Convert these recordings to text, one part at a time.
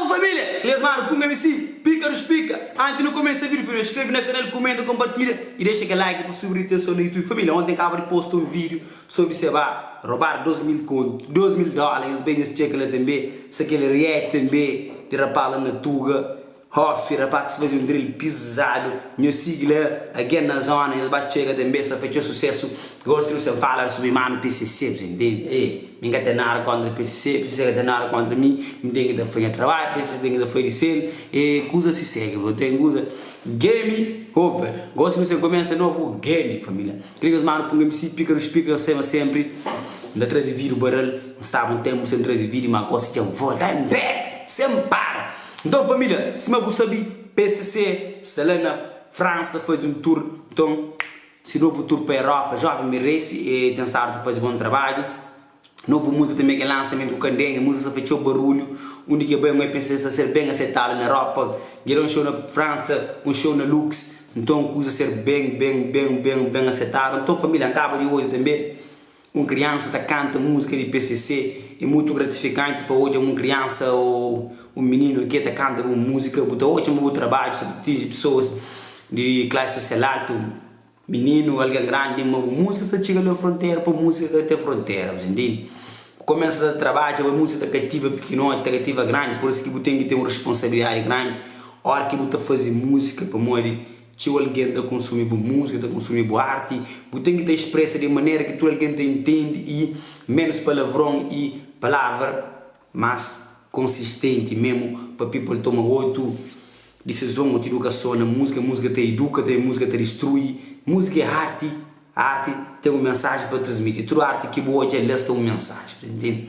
Salve família! Klesmar Pum MC Pika dos Pika Antes nu kumesa vídeo família Skrebe na kanal, kumenta, konpartilha i dexa kel like pa subi ritenson na Youtube Família onten kaba di posta un vídeo sobri se ba robadu 2000 kontu, 2000 dóla nhos bai nhos txeka la tanbê sa kel react tanbê di rapaz la na tuga. Hofi rapax fazi un drill pizadu nho sigi la agen na zona nhos ba txega tanbe sa fetxo sucesso gos trio sem falar subi manu pcc bus intende ê mi nka ten nada contra pcc pcc ka ten nada contra mi mi ten ki ta faz nha trabalho pcc ten ki ta faz di sel ê kuza si segue bro ten kuza game over gos trio sem começa novo game família. Trigas manu punga msi píkarus píka N saiba senpri N ta traze vida baral N staba un tenpu sen traze vida Má gosi dja N volta N bebe sen N para Nton família, sima bu sabi PCC sta la na Fransa ta faze un tur Nton se novu tur pa Europa Jóven merese e ten stadu ta faze bon trabadju Novu múzika tanbê kel lansamentu ku Kandenha, múzika sta fla txeu barulhu, undi ki el bai un bai pensa el sta ser ben asetadu na Europa, dja da un xou na Fransa, un xou na Lux, nton kuza ser ben ben ben ben ben asetadu, nton família Ankaba di odja tanbê un kriansa ta kanta múzika di PCC, é mutu gratifikanti pa odja ma un kriansa ô un mininu ake ta kanta bu múzika, bu ta odja ma bu trabadju sta ta atinji pesoas di klasi sosial altu. Mininu algen grandi ma bu musika sta txiga alén frontera pa musika ka ten frontera bu sta intende bu komesa ta trabadja ma musika ta kativa pikinoti ta kativa grandi por isu ki bu ten ki ten un responsabilidadi grandi ora ki bu ta fazi musika pamodi txeu algen ta konsumi bu musika ta konsumi bu arti bu ten ki ta espresa di manera ki tudu algen ta intende i ménus palavron i palavra. Más konsistenti memu pa people toma otu disizon, otu idukason na múzika. Múzika ta iduka, tanbe múzika ta distrui. Múzika é arti, arti ten un mensaji pa transmiti. Tudu arti ki bu odja lés ten un mensaji, ta intende?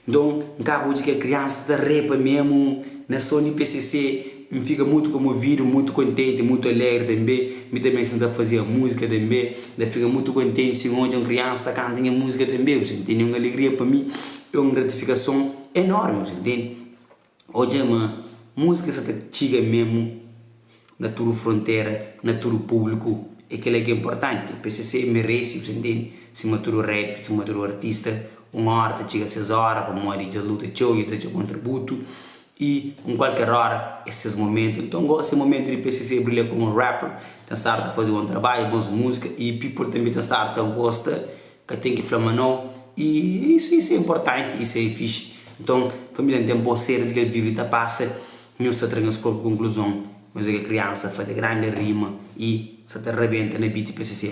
Nton, N ka ba odja kel kriansa ta repa memu na son di pcc. N fika mutu komovidu, mutu kontenti, mutu alegri tanbê. Mi tanbê si N ta fazia múzika tanbê. N ta fika mutu kontenti si N odja un kriansa ta kanta nha múzika tanbê, bu sa intende? É un alegria pa mi, é un gratifikason enórmi, bu sa intende? Odja ma múzika sta ta txiga mésmu na tudu frontera, na tudu públiku, é kel-la ki é inportanti. PCC merese, bu sa intende, sima tudu rap, sima tudu artista, un óra ta txiga ses óra pamodi dja luta txeu, dja ta txeu kontributu. I un kualker ora é ses momentu, nton gosi é momentu di PCC brilha komu rapper, ten stadu ta faze bon trabadju, bons múzika i people tanbe ten stadu ta gosta, ka ten ki fla ma nau i é isu i se inportanti i se fixi. Nton família N ten bos sedu di ki el vive i ta pasa, nhos sta tra nhos propi konkluzon, nhos é kel kriansa faze grandi rima i sa ta rabenta na beat PCC.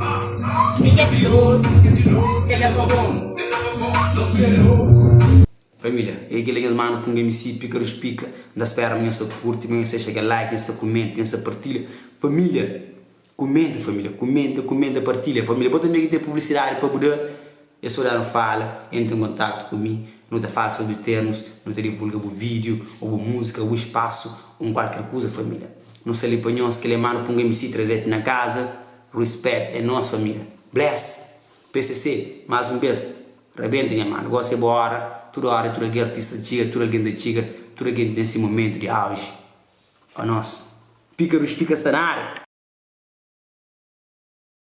Família pilotu se da pa bo Nos tudu é nobu. Família ei kel nhas manu punga mc pikarush pika nta spera ma nhos ta kurti ma nhos ta dexa kel like nhos ta kumenta nhos ta partilha família kumenta família kumenta kumenta partilha família bo tanbe ki ten publisidadi pa bu da Es sodanu fala, Entra en kontaktu ku mi. Nu ta fala sobri térmus, nu ta divulga bu vídiu ô bu múzika, bu spasu ô un kualker kuza família. Nu sta li pa nhos. Kel é má nu punga mc traze-t na kaza. Respect é nos família. Bless! Pcc, más un bes, rabenta nha manu. Gósi é bo óra. Tudu óra i tudu algen artista ta txiga, tudu algen ta txiga, tudu algen ten se momentu di auji. Pa nos. Píkaru Spika sta na ária!